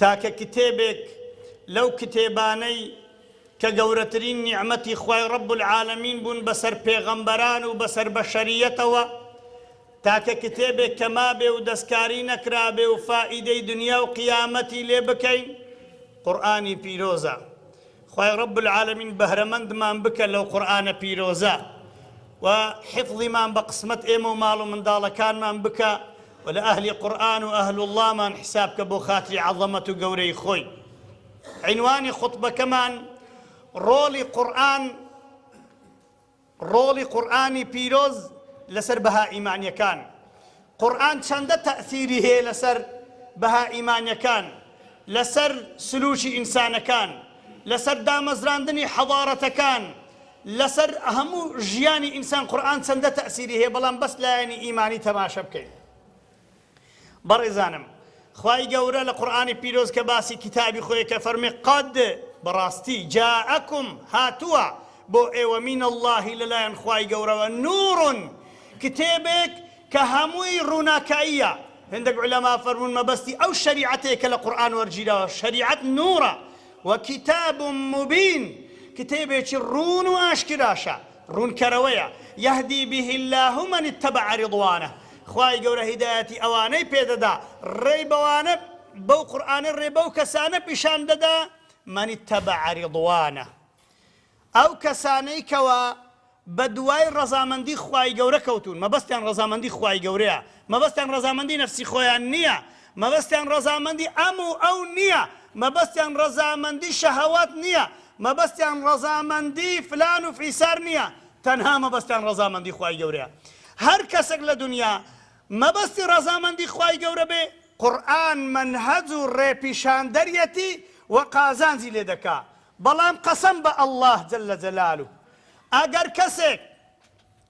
تاکە کتێبێک لەو کتێبانەی کە گەورەترین نیعمەتی خوای رب العالمین بوون بەسەر پێغەمبەران و بەسەر بەشەریەتەوە، تاکە کتێبێک کە مابێ و دەستکاری نەکرابێ و فائیدەی دنیا و قیامەتی لێ بکەین قورئانی پیرۆزە. خوای رب العالمین بەهرەمەندمان بکە لەو قورئانە پیرۆزە و حفظیمان بە قسمەت ئێمە و ماڵ و منداڵەکانمان بکە و لە ئەهلی قورئان و ئەهل اللەمان حساب کە بۆ خاتری عەزەمەت و گەورەی خۆی عینوانی خوتبەکەمان رۆڵی قورئان ڕۆڵی قورئانی پیرۆز لەسەر بەها ئیمانیەکان، قورئان چەندە تەئسیری هەیە لەسەر بەها ئیمانیەکان، لەسەر سلوکی ئینسانەکان، لەسەر دامەزراندنی حەضارەتەکان، لەسەر هەموو ژیانی ئینسان قورئان چەندە تەئسیری هەیە، بەڵام بەس لایەنی ئیمانی تەماشە بکەین. بەڕێزانم خوای گەورە لە قورئانی پیرۆز کە باسی کیتابی خۆی ئەکا فەرموێ قد بەڕاستی جاءکم هاتووە بۆ ئێوە من اللە لەلایەن خوای گەورەوە نور کتێبێک کە هەمووی ڕووناکاییە هێندەک عولەما فەرموون مەبەستی ئەو شەریعەتەیە کە لە قورئان وەرگیراوە شەریعەت نورە وکتاب مبین کتێبێکی ڕوون و ئاشکراشە ڕوونکەرەوەیە، یهدی به اللە من اتبع رضوانە، خوای گەورە هیدایەتی ئەوانەی پێ دەدا، ڕێی بەوانە، بەو قورئانە ڕێ بەو کەسانە پیشان دەدا، من اتبع رضوانە، ئەو کەسانەی کەوا بە دوای ڕەزامەندی خوای گەورە کەوتوون، مەبەستیان ڕەزامەندی خوای گەورەیە، مەبەستیان ڕەزامەندی نەفسی خۆیان نییە، مەبەستیان ڕەزامەندی ئەم و ئەو نییە، مەبەستیان ڕەزامەندی شەهەوات نییە، مەبەستیان ڕەزامەندی فلان و فیسار نییە، تەنها مەبەستیان ڕەزامەندی خوای گەورەیە. هەر کەسێک لە دونیا مەبەستی ڕەزامەندی خوای گەورە بێ، قورئان مەنهەج و ڕێپیشاندەریەتی و قازانجی لێ دەکا، بەڵام قەسەم بە اللە جل جلالە ئەگەر کەسێک،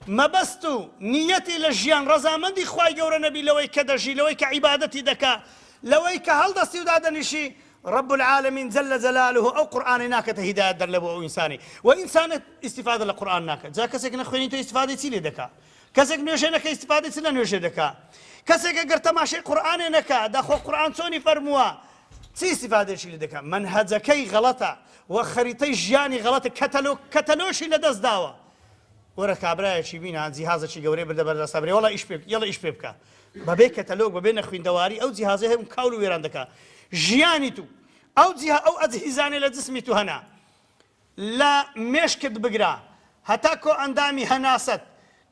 مەبەست و نیەتی لە ژیان ڕەزامەندی خوای گەورە نەبی لەوەی کە دەژی لەوەی کە عیبادەتی دەکا لەوەی کە هەڵدەستی و دادەنیشی رب العالمین جل جلاله ئەو قورئانەی ناکەتە هیدایەت دەر لەبۆ ئەو ئینسانەی و ئینسانە ئیستیفادە لە قورئان ناکە جا کەسێک نەخوێنی تۆ ئیستیفادەی چی لێ دەکا کەسێک نوێژێ نەکە ئیستیفادەی چ لە نوێژێ دەکا کەسێکە گەر تەماشەی قورئانێ نەکا داخۆ قورئان چۆنی فەرمووە چی ئیستیفادەشی لێ دەکا مەنهەجەکەی غەڵەتە و خەریتەی ژیانی غەڵەتە کەتەلۆ کەتەلۆشی لەدەست داوە وەرە کابرایەکی بینا جیهازەکی گەورەی بردە بەر دەستا برێ وەڵا ئیش پێ بکە یەڵە ئیش پێ بکە بەبێ کەتەلۆگ بەبێ نەخویندەواری ئەو جیهازەی هەبوو کاول و وێران دەکا ژیانی تو ئەو جیه ئەو ئەجهیزانەی لە جسمی تو هەنە لە مێشکت بگرە هەتا کۆئەندامی هەناسەت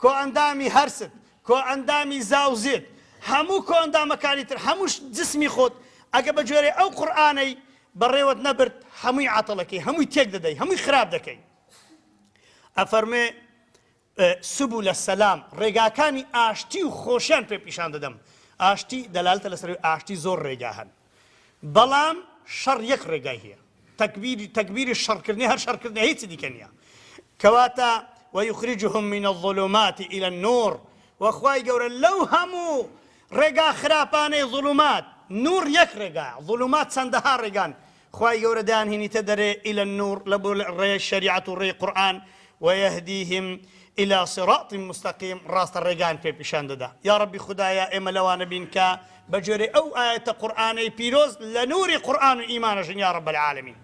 کۆئەندامی هەرست کۆئەندامی زاوزێت هەموو کۆئەندامەکانی تر هەمووش جسمی خۆت ئەگە بە گوێرەی ئەو قورئانەی بەڕێوەت نەبرد هەمووی عەتڵ ئەکەی هەمووی تێک دەدەی هەمووی خراپ دەکەی ئەفەرموێ، سبل السلام، ڕێگاکانی ئاشتی و خۆشیان پێ پیشان دەدەم، ئاشتی دەلالەتە لەسەر ئەوەی ئاشتی زۆر ڕێگا هەن، بەڵام شەڕ یەک ڕێگای هەیە، تەکبیری تەکبیری شەڕکردنی هەر شەڕکردنە هیچی دیکە نییە، کەواتە، ویخرجهم من الظلمات الی النور، وە خوای گەورە لەو هەموو ڕێگا خراپانەی ظلمات، نور یەک ڕێگایە، ظلمات چەندەها ڕێگان، خوای گەورە دان هینیتە دەرێ الی النور لە بر ڕێ شەریعەت و ڕێی قورئان ویهدیهم الی صراط مستقیم ڕاستە ڕێگان پێ پیشان دەدا یاڕەبی خودایە ئێمە لەوانە بین کە بە گوێرەی ئەو ئایەتە قورئانەی پیرۆز لە نوری قورئان و ئیمان ئەژین یاڕەب العالمین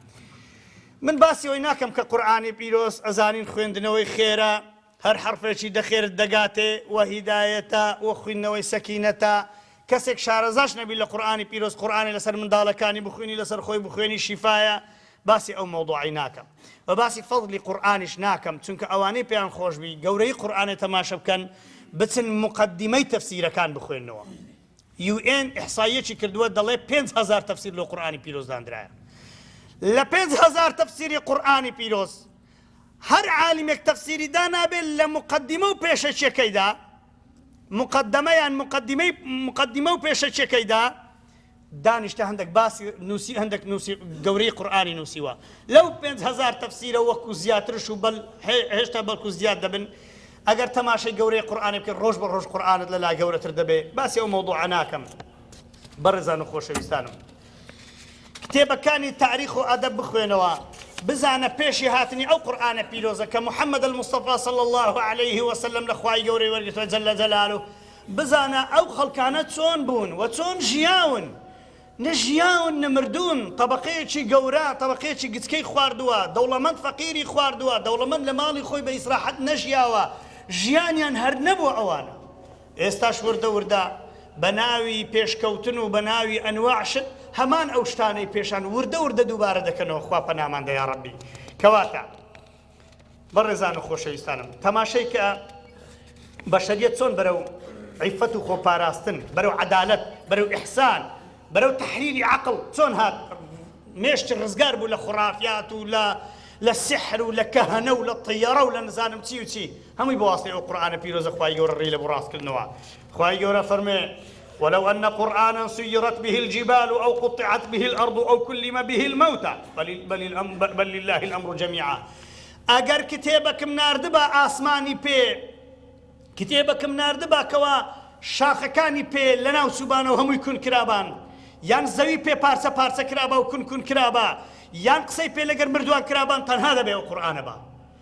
من باسی ئەوەی ناکەم کە قورئانی پیرۆز ئەزانین خوێندنەوەی خێرە هەر حەڕفێکی دەخێرت دەگاتێ و هیدایەتە و خویندنەوەی سەکینەتە، کەسێک شارەزاش نەبی لە قورئانی پیرۆز قورئانی لەسەر منداڵەکانی بخوینی لەسەر خۆی بخوێنی شیفایە، باسی ئەو مەوضوعەی ناکەم و باسی فەضلی قورئانیش ناکەم چونکە ئەوانەی پێیان خۆش بی گەورەیی قورئانێ تەماشە بکەن بچن موقەدیمەی تەفسیرەکان بخوێننەوە UN احصائیەکی کردوە دەڵێ پێنج هەزار تەفسیر لۆ قورئانی پیرۆز داندرایە لە پێنج هەزار تەفسیری قورئانی پیرۆز هەر عالمێک تەفسیری دانابێ لە مقدمە و پێشەکیەکەیدا مقدمە یان مقدمەی مقدمە و پێشەکیەکەیدا دانیشتە هەندێک باسی نووسی هەندێک نووسی گەورەی قورآانی نووسیوە لەو 5هزار تەفسیرە وەکو زیاترش و بەل هێشتا بەڵکو زیاد دەبن ئەگەر تەماشای گەورەی قورآانی بکە ڕۆژ بە ڕۆژ قورآانت لەلا گەورەتر دەبێ باسی ئەو مەوضوع ناکەم بەڕێزان و خۆشەویستانم کتێبەکانی تاریخ و ئەدەب بخوێنەوە بزانە پێشی هاتنی ئەو قورئانە پیرۆزە کە محمد المصطفی صلی اللە علیە وسلم لە خوای گەورەی وەرگرتوە جل جلاله بزانە ئەو خەڵکانە چۆن بوون و چۆن ژیاون نە ژیاون نە مردوون طەبەقەیەکی گەورە طەبەقەیەکی گچکەی خواردوە دەوڵەمەند فەقیری خواردوە دەوڵەمەند لە ماڵی خۆی بە ئیسراحەت نەژیاوە ژیانیان هەر نەبووە ئەوانە ئێستاش وردە وردە بە ناوی پێشکەوتن و بە ناوی ئەنواع شت هەمان ئەو شتانەی پێشان وردە وردە دووبارە دەکەنەوە خوا پەنامان دە یاڕەبی کەواتە بەڕێزان و خۆشەویستانم تەماشەی کە بەشەریەت چۆن بەرەو عیفەت و خۆپاراستن بەرەو عەدالەت بەرەو ئیحسان بەرەو تحریری عقل چۆن هات مێشتی ڕزگار بوو لە خوڕافیات و لە لە سحر و لە کەهەنە و لە طیەڕە و لە نزانم چی و چی هەمووی بە واستەی ئەو قورئانە پیرۆزە خوای گەورە ڕێی لە بۆ ڕاست کردنەوە خوای گەورە فەرموێ ولو ان قرآنا سیرت به الجبال او قطعت به الارض او کلم به الموتى بل, بل, الامر بل لله الامر جميعا ئەگەر کتێبەکم ناردبا ئاسمانی پێ کتێبەکم ناردبا کەوا شاخەکانی پێ لەناو چوبانەوە هەمووی کون کرابان یان زەوی پێ پارچە پارچە کرابا و کون کون کرابا یان قسەی پێ لەگەر مردووان کرابان تەنها دەبێ و قورآانە بە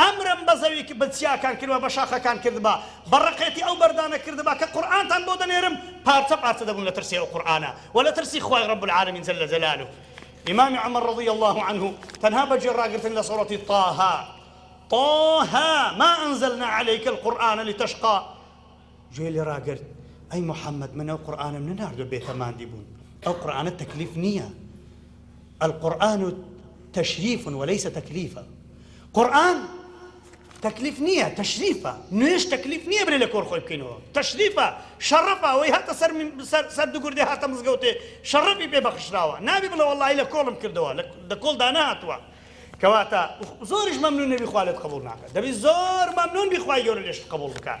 ئەمرم بە زەوی ک بە چیاکان کردبا بە شاخەکان کردبا بە ڕقێتی ئەو بەردانە کردبا کە قورئانتان بۆ دەنێرم پارچە پارچە دەبوون لە ترسی ئەو قورئانە وە لە ترسی خوای رب العالمین جل جلالە ئیمام عمر رضی اللە عنه تەنها بە گوێ ڕاگرتن لە سورەتی طه طه ما انزلنا علیک القرآن لتشقی گوێ لێ ڕاگرت، ئەی محمد من ئەو قورئانەم نەناردوە بێتە ماندی بوون، ئەو قورئانە تەکلیف نیە، القرآن تشریف و لیس تکلیفا، قورئان تەکلیف نیە تشریفە، نوێژ تەکلیف نیە برێ لە کۆر خۆی بکەینەوە، تشریفە، شەڕەفە، ئەوەی هاتە سەر سەر سەر دگردێ هاتە مزگەوتێ شەڕەفی پێ بەخشراوە، نابی بڵێ وەڵاهی لە کۆڵم کردەوە، لە کۆڵ دا نەهاتوە، کەواتە زۆریش مەمنون نەبی خوا لێت قبوڵ ناکات، دەبی زۆر مەمنون بی خوای گەورە لێشت قبوڵ بکات.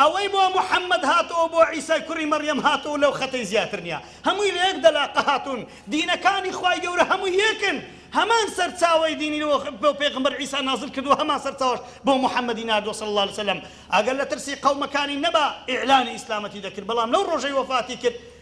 ئەوەی بۆ محمد هاتەوە بۆ عیسای کوڕی مەڕیەم هاتەوەو لەو خەتەی زیاتر نیە هەمووی لە یەک دەلاقە هاتوون دینەکانی خوای گەورە هەمووی یەکن هەمان سەرچاوەی دینی بۆ پێغەمبەر عیسا نازل کردووە هەمان سەرچاوەش بۆ محمدی ناردووە صلی اللە علیە وسلم ئەگەر لە ترسی قەومەکانی نەبا ئیعلانی ئیسلامەتی دەکرد بەڵام لەو ڕۆژەی وەفاتی کرد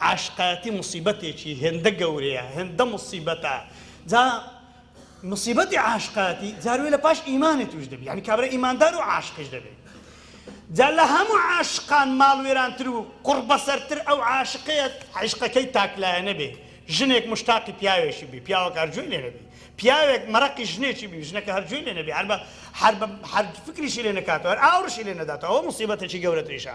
عاشقایەتی موسیبەتێکی هێندە گەورەیە هێندە موسیبەتە جا موسیبەتی عاشقایەتی جار وێ لە پاش ئیمانی توش دەبی یعنی کابرا ئیماندار و عاشقش دەبێ جا لە هەموو عاشقان ماڵوێرانتر و قوڕبەسەرتر ئەو عاشقەیە عیشقەکەی تاکلایەنە بێ ژنێک مشتاقی پیاوێکی بی پیاوەکە هەر گوێی لێ نەبی پیاوێک مەرەقی ژنێکی بی ژنەکە هەر گوێی لێ نەبی هەر بە هەر بە هەر فکریشی لێ نەکاتەوە هەر ئاوڕشی لێ نەداتەوە ئەوە موسیبەتێکی گەورەتریشە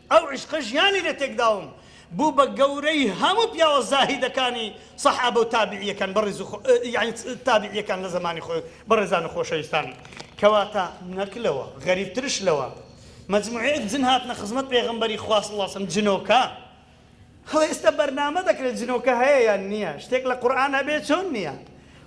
ئەو عیشقە ژیانی لێ تێکداوم بوو بە گەورەی هەموو پیاوە زاهیدەکانی سەحابە و تابعیەکان بەڕیز و خۆ یانی تابعیەکان لە زەمانی خۆی بەڕێزان و خۆشەویستان کەواتە نەک لەوە غەریب ترش لەوە مەجموعەیەک جن هاتنە خزمەت پێغەمبەری خوا صلی اللە علیە وسلم جنۆکە خۆ ئێستا بەرنامە دەکرێت جنۆکە هەیە یان نییە شتێک لە قورئان هەبێت چۆن نییە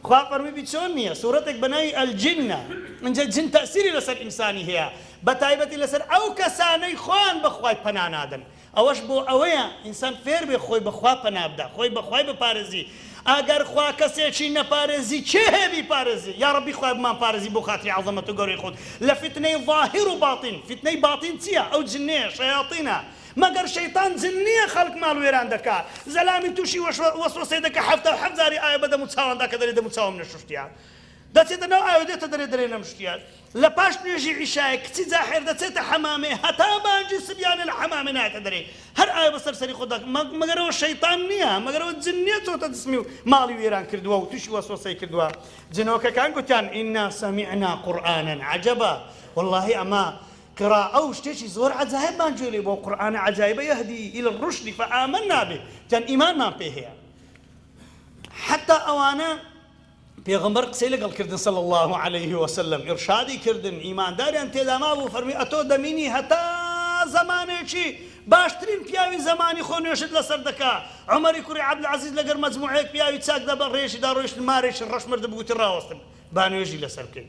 خوا فەرمووی چۆن نییە سورەتێک بە ناوی الجنە ئینجا جن تەئسیری لەسەر ئینسانی هەیە بە تایبەتی لەسەر ئەو کەسانەی خۆیان بە خوای پەنا نادەن ئەوەش بۆ ئەوەیە ئینسان فێر بێ خۆی بە خوا پەنا بدا خۆی بە خوای بپارێزی ئەگەر خوا کەسێکی نەپارێزی کێ هەیە بیپارێزی یا ڕەبی خوایە بمانپارێزی بۆ خاتری عەزەمەت و گەورەی خۆت لە فیتنەی ظاهر و باطن فیتنەی باطن چییە ئەو جنەیە شەیاطینە مەگەر شەیتان جن نیە خەڵک ماڵ وێران دەکا زەلامی توشی وەسوەسەی دەکا حەفتا و حەفت جاری ئاوێ بەدەمو چاواندا کە دەرێ دەمو چاوم نەشوشتیە دەچێتە ناو ئاوێ دێتە دەرێ دەرێ نەمشتیە لەپاش نوێژی عیشایە کچی جاحێر دەچێتە حەمامێ هەتا بانگی سبیانێ لە حەمامێ نایەتە دەرێ هەر ئاوێ بەسەر سەری خۆت دەک مەگەر ئەوە شەیتان نیە مەگەر ئەوە جن نیە چۆتە جسمی و ماڵی وێران کردوە و توشی وەسوەسەی کردوە جنۆکەکان گوتیان ئینا سەمیعنا قورئانەن عەجەبا وەڵاهی ئەمە قراءە و شتێکی زۆر عەجایبمان گوێ لێ بوو ئەو قورئانە عەجایبە یهدی الی الرشد فآمنا به جەند ئیمانمان پێ هەیە حتی ئەوانە پێغمبەر قسەی لەگەڵ کردن صلی الله علیه وسلم ئرشادی کردن ئیمانداریان تێدا مابوو فەرمی ئەتۆ دەمینی هەتا زەمانێکی باشترین پیاوی زەمانی خۆ نوێژت لەسەر دەکا عمری کوڕی عبدالعزیز لەگەر مەجموعەیەک پیاوی چاک دەبە ڕێژی دا ڕۆیشت مارێکی ڕەش مردبووتی ڕاوەستن با نوێژی لەسەر بکەین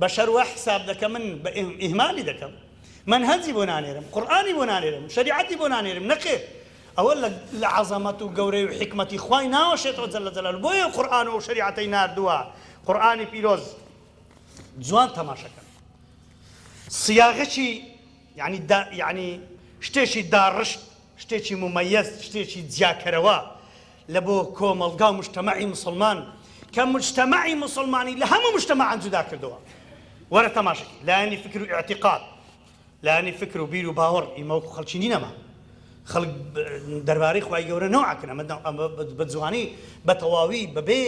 بەشەر وا حیساب دەکەمن بە ئیهمالی دەکەم مەنهەجی بۆ نانێرم قورئانی بۆ نانێرم شەریعەتی بۆ نانێرم نەخێر ئەوە لە عەزەمەت و گەورەی و حیکمەتی خوای ناوەشێتەوە جەلە جەلال بۆیە قورئان و شەریعەتەی ناردووە قورئانی پیرۆز جوان تەماشەکەن سیاغەکی یعنی دا یعنی شتێکی داڕشت شتێکی مومەیەز، شتێکی جیاکەرەوە لە بۆ کۆمەڵگا و موجتەمەعی موسڵمان کە موجتەمەعی موسڵمانی لە هەموو موجتەمەعان جودا کردووە. وەرە تەماشەکەی لایەنی فکر و ئیعتیقاد، لایەنی فکر و بیر و باوەڕ، ئیمە وەکوو خەڵکی نین ئەمە. خەڵک دەربارەی خوای گەورە نەو عەکن، ئەمە بە جوانی، بە تەواوی، بەبێ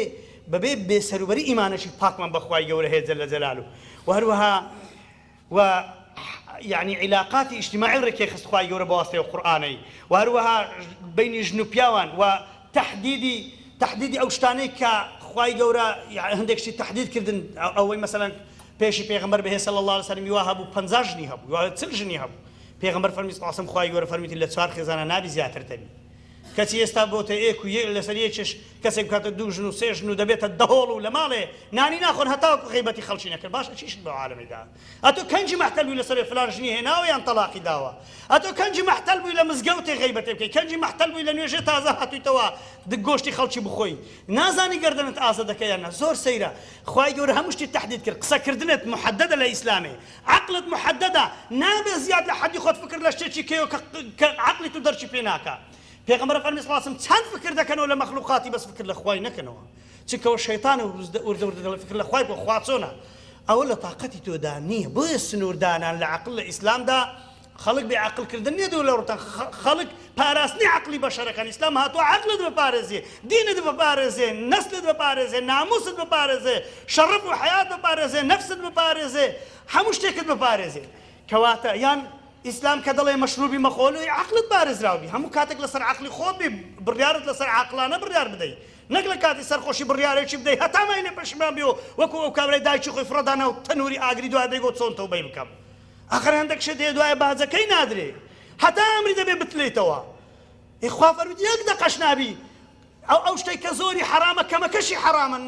بەبێ بێ سەروبەری ئیمانێکی پاکمان بە خوای گەورە هەیە جل جلالە و هەروەها و یانی عیلاقاتی ئیجتماعی ڕێکیخست خوای گەورە بەواسطەی ئەو قورئانەی و هەروەها بەینی ژن و پیاوان و تەحدیدی تەحدیدی ئەو شتانەی کە خوای گەورە هەندێک شتی تەحدید کردن ئەوەی مەسەلەن پێشی پێغەمبەر بهێ صلی اللە علیە وسلم ی وا هەبوو پەنجا ژنی هەبوو و چل ژنی هەبوو پێغەمبەر فەرمی صلی اللە علیە وسلم خوای گەورە فەرموویەتی لە چوار خێزانە نابی زیاتر دەبی کەچی ئێستا بۆتە ئێک و لەسەر یەکیش کەسێک بکاتە دوو ژن و سێ ژن و دەبێتە دەهۆڵ و لەماڵێ نانی ناخۆن هەتاوەکو غەیبەتی خەڵکی نەکرد باشە چیشت بەو عالەمەی دا ئەتۆ کەنجی مەحتەل بووی لەسەرێ فلان ژنی هێناوە یان تەڵاقی داوە ئەتۆ کەنجی مەحتەل بووی لە مزگەوتێ غەیبەتێ بکەی کەنجی مەحتەل بووی لە نوێژێ تازە هاتوویتەوە گۆشتی خەڵکی بخۆی نازانی گەردەنت ئازە دەکەی یان نا زۆر سەیرە خوای گەورە هەموو شتی تەحدید کرد قسە کردنت محددە لە ئیسلامێ عەقلت محددە نابێ زیاد لە حەدی خۆت فکر لە شتێکی کەیەوە کە عەقلی تو دەرکی پێ ناکا پێغەمبەر فەرمی صلی اللە علیە و سلم، چەند فکر دەکەنەوە لە مەخلوقاتی بەس فکر لە خوای نەکەنەوە چونکە ئەوە شەیتانە و وردە وردە دەڵێ فکر لە خوای بکە خوا چۆنە ئەوە لە تاقەتی تۆدا نیە بۆیە سنور دانان لە عەقل لە ئیسلامدا خەڵک بێ عەقل کردن نیە دوور لە ڕوتان خەڵک پاراستنی عەقلی بەشەرەکان ئیسلام هاتوە عەقلت بپارێزێ دینت بپارێزێ نەسلت بپارێزێ ناموست بپارێزێ شەڕەف و حەیات بپارێزێ نەفست بپارێزێ هەموو شتێکت بپارێزێ کەواتە یان ئیسلام کە دەڵێ مەشروبی مەخۆ لۆی عەقڵت پارێزراو بی هەموو کاتێک لەسەر عەقڵی خۆت بی بڕیارت لەسەر عاقڵانە بڕیار بدەی نەک لە کاتی سەرخۆشی بڕیارێکی بدەی هەتا مای لێ پەشیمان بی و وەکو ئەو کابرای دایکی خۆی فڕەدا ناو تەنوری ئاگری دوای بێی گۆ چۆن تەوبەی بکەم ئەخەر هەندەک شت هەیە دوایە باجەکەی نادرێ هەتا ئەمری دەبێ بتلێیتەوە ئێ خوا فەرمووت یەک دەقەش نابی ئەو ئەو شتەی کە زۆری حەرامە کەمەکەشی حەرامە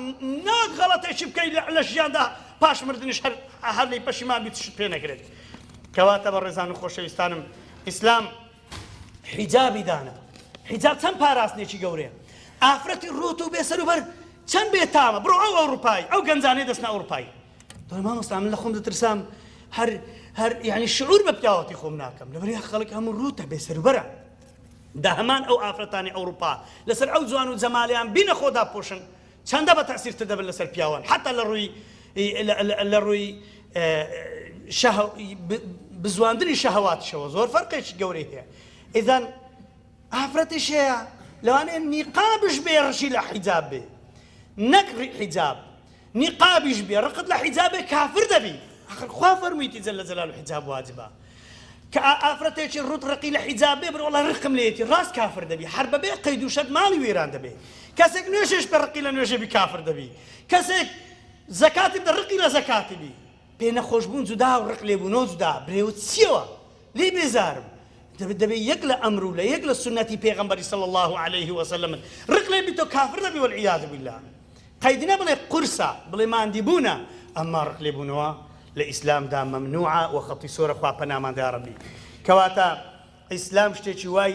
ناک غەڵەتێکی بکەی لە ژیاندا پاش مردنیش هەر هەر لێی پەشیمان بیت شت پێ نەکرێت کەواتە بە ڕێزان و خۆشەویستانم ئیسلام حیجابی دانا حیجاب چەند پاراستنێکی گەورەیە ئافرەتی ڕۆت و بێسەر و بەر چەند بێ تامە بڕۆ ئەو ئەوروپایی ئەو گەنجانەی دەستنا ئەوروپایی دۆی مامۆستا من لە خۆم دەترسام هەر هەر یعنی شعور بە پیاوەتی خۆم ناکەم لەبەر خەڵک هەموو ڕوتە بێ سەروبەرە دا هەمان ئەو ئافرەتانی ئەوروپا لەسەر ئەو جوان و جەمالیان بینە خۆ داپۆشن چەندە بە تەئسیر تر دەبن لەسەر پیاوان حەتا لە ڕووی لە ڕووی شەهو بزواندنی شەهواتشەوە زۆر فەرقێکی گەورەی هەیە ئیزان ئافرەتیش هەیە لەوانەیە نیقابش بێ ڕشی لە حیجاب بێ نەک حیجاب نیقابیش بێ ڕقت لە حیجاب بێ کافر دەبی ئاخر خوا فەرموویەتی جل جلالە حیجاب واجبە کە ئا ئافرەتێکی ڕوت ڕقی لە حیجاب بێ بڵێ وەڵا ڕقم لێیەتی ڕاست کافر دەبی هەر بەبێ قەید و شەرت ماڵی وێران دەبێ کەسێک نوێژێش بێ ڕقی لە نوێژێ بی کافر دەبی کەسێک زەکاتی بدە ڕقی لە زەکاتی بی پێ نەخۆش بوون جودا و ڕق لێبوونەوە جودا، برێوت چیەوە لێی بێزارم دەبێ دەبێ یەک لە ئەمر و لە یەک لە سوننەتی پێغەمبەری صلی اللە علیە و سلم ڕق لێ بیتەوە کافر دەبی والعیاذ باللە قەید نەبڵێ قورسە بڵێ ماندی بوونە ئەمما ڕق لێ بوونەوە لە ئیسلامدا مەمنوعە و خەتی سۆرە خوا پەناماندا یاڕەبی کەواتە ئیسلام شتێکی وای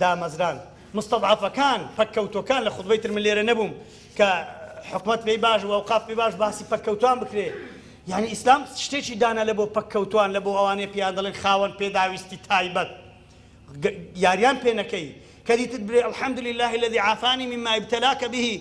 دامەزراند مستضعفەکان پەککەوتوەکان لە خوتبەی تر من لێرە نەبووم کە حکومەت پێی باش و ئەوقاف پێی باش باسی پەککەوتوان بکرێ یعنی ئیسلام شتێکی دانا لە بۆ پەککەوتوان لە بۆ ئەوانەیە پێیان دەڵێن خاوەن پێداویستی تایبەت یاریان پێ نەکەی کە دیتت برێ الحمد لله الذي عافاني مما ابتلاك به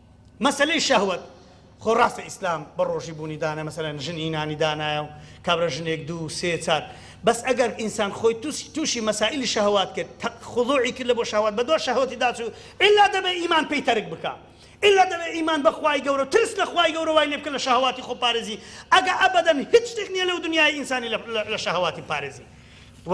مەسەلەی شەهوەت خۆ ڕاستە ئیسلام بە ڕۆژی بوونی دانای مەسەلەن ژن ی نانی دانایە و کابرا ژنێک دوو سێ چار بەس ئەگەر ئینسان خۆی تووشی مەسائیلی شەهوات کرد تە خضوعی کرد لە بۆ شەهوات بە دوا شەهوەتی داچوو ئیلا دەبێ ئیمان پێی تەرک بکا ئیلا دەبێ ئیمان بە خوای گەورە و ترس لە خوای گەورە وای لێ بکە لە شەهەواتی خۆ پارێزی ئەگا ئەبەدەن هیچ شتێک نیە لەو دنیایە ئینسانی لە شەهەواتی بپارێزی و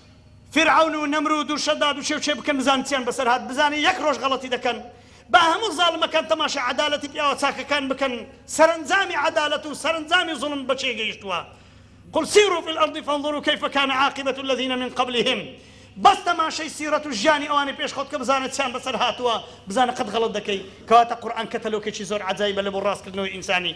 فیرعەون و نەمرود و شەداد و شێوچێ بکەن بزانن چیان بەسەر هات بزانن یەک ڕۆژ غەڵەتی دەکەن با هەموو زاڵمەکان تەماشای عەدالەتی پیاوە چاکەکان بکەن سەرەنجامی عەدالەت و سەرەنجامی زوڵم بە چێ گەیشتووە قل سیرو فی الارض فانظرو کیف کان عاقبە الذین من قبلهم بەس تەماشەی سیرەت و ژیانی ئەوانی پێش خۆت کە بزانە چیان بەسەر هاتووە بزانە قەت غەڵەت دەکەی کەواتە قورئان کەتەلۆکێکی زۆر عەجایبە لەبۆ ڕاست کردنەوەی ئینسانی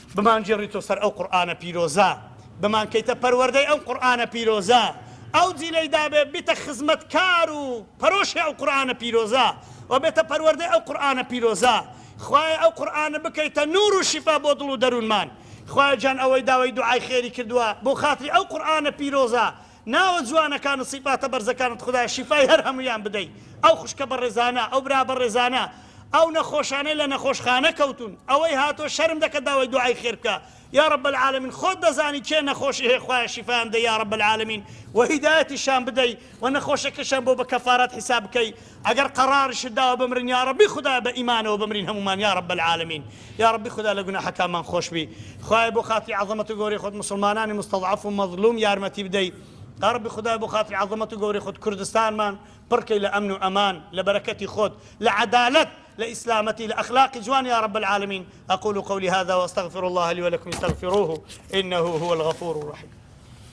بمانگێڕیتۆ سەر ئەو قورئانە پیرۆزە، بمانکەیتە پەروەردەی ئەم قورئانە پیرۆزە، ئەو جیلەی دابێ بیتە خزمەتکار و پەرۆشی ئەو قورئانە پیرۆزە و بێتە پەروەردەی ئەو قورئانە پیرۆزە، خوایە ئەو قورئانە بکەیتە نوور و شیفا بۆ دڵ و دەروونمان، خوایە گیان ئەوەی داوای دوعای خێری کردووە بۆ خاتری ئەو قورئانە پیرۆزە، ناوە جوانەکانت سیفاتە بەرزەکانت خودایە شیفای هەر هەموویان بدەی ئەو خوشکە بەڕێزانە ئەو برا بەڕێزانە ئەو نەخۆشانەی لە نەخۆشخانە کەوتون ئەوەی هاتوە شەرم دەکە داوای دوعای خێر بکە یا رب العالمین خۆت دەزانی کێ نەخۆشی هەیە خوایە شیفایان بدەی یا رب العالمین و هیدایەتیشان بدەی و نەخۆشەکەشیان بۆ بە کەفارات حیساب بکەی ئەگەر قەڕارشت داوە بمرن یاڕەبی خودایە بە ئیمانەوە بمرین هەموومان یاڕەب العالمین یاڕەبی خودا لە گوناحەکانمان خۆشبی خوایە بۆ خاتری عەزەمەت و گەورەی خۆت موسڵمانانی مستەزعەف و مەزڵوم یارمەتی بدەی یاڕەبی خودایە بۆ خاتری عەزەمەت و گەورەی خۆت کوردستانمان پڕ کەی لە ئەمن و ئەمان لە بەرەکەتی خۆت لە عەدالەت لە ئیسلامەتی لە ئەخلاقی جوان یاڕەب العالمین اقول قولی هذا واستغفر الله لي ولكم استغفروه انه هو الغفور الرحیم